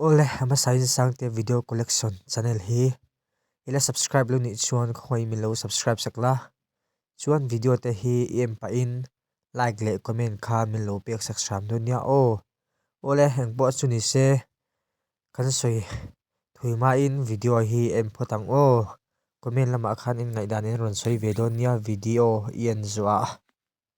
Aw le, a hmasa in Sangte Video Collection channel hi i la subscribe lo nih chuan khawngaih in min lo subscribe sak la, chuan video te hi i en pah in like leh comment khan min lo pek sak hram dawn nia aw. Aw le, eng pawh chu ni se kan sawi thui hma in video hi i en phawt ang aw, comment lamah khan in ngaihdan in rawn sawi ve dawn nia video i en zuah a.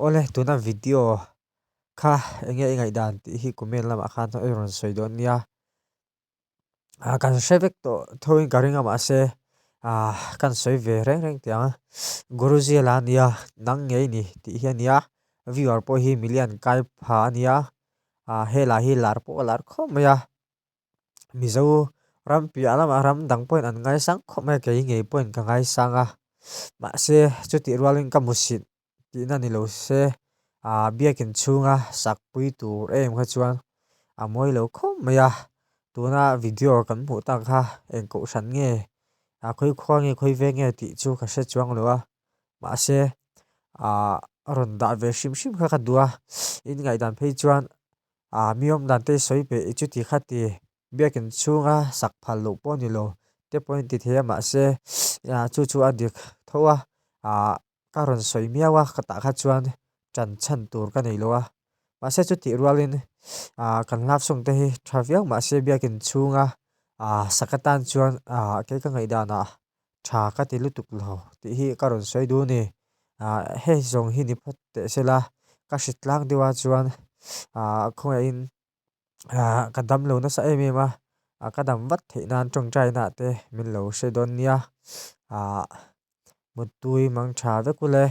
Awle tuna video kha enge i ngaih dan tih hi comment lamah khan i rawn sawi dawn nia a kan hre vek tawh thawhin ka ring a mah se ah kan sawi ve reng reng tih ang a guruji a la a nia nang ngei ni tih hi a nia viewer pawh hi milian kaiphah a nia ah hela hi lar pawh a lar khawp mai a. Mizo ram piah lam a ram dang pawhin an ngai sang khawp mai a kei ngei pawhin ka ngai sang a mahse chutih rualin ka mu sin tihna ni lo se ah biakin chhunga sak pui tur em kha chuan a mawi lo khawp mai a tuna video kan hmuh tak kha eng kohhran nge a khawi khua nge khawi vek nge tih chu ka hre chuang lo a mahse ah rawn dah ve hrim hrim kha ka duh a in ngaihdan phei chuan. A mi awm dan te sawi pe i chuti kha ti. Biakin chhunga sak phal loh pawh ni lo te pawhin ti thei a mahse chu chu a dik tho a. A ka rawn sawi miau a ka tah kha chuan ṭan chhan tur ka nei lo a. Mahse chu tih rualin kan hlakchhung te hi ṭha viau mahse biakin chhunga sak atan chuan kei ka ngaihdanah tha ka ti lutuk lo tih hi ka rawn sawi dun ni. Ahh hei zawng hi ni phawt teh se la ka hri tlang deuh a chuan ahh khawngaiah in ahh ka dam lo nasa em em a, ahh ka dam vat theih nan tawngtai inah te min lo hre dawn nia. Ahh mut tui mang tha vek uleh.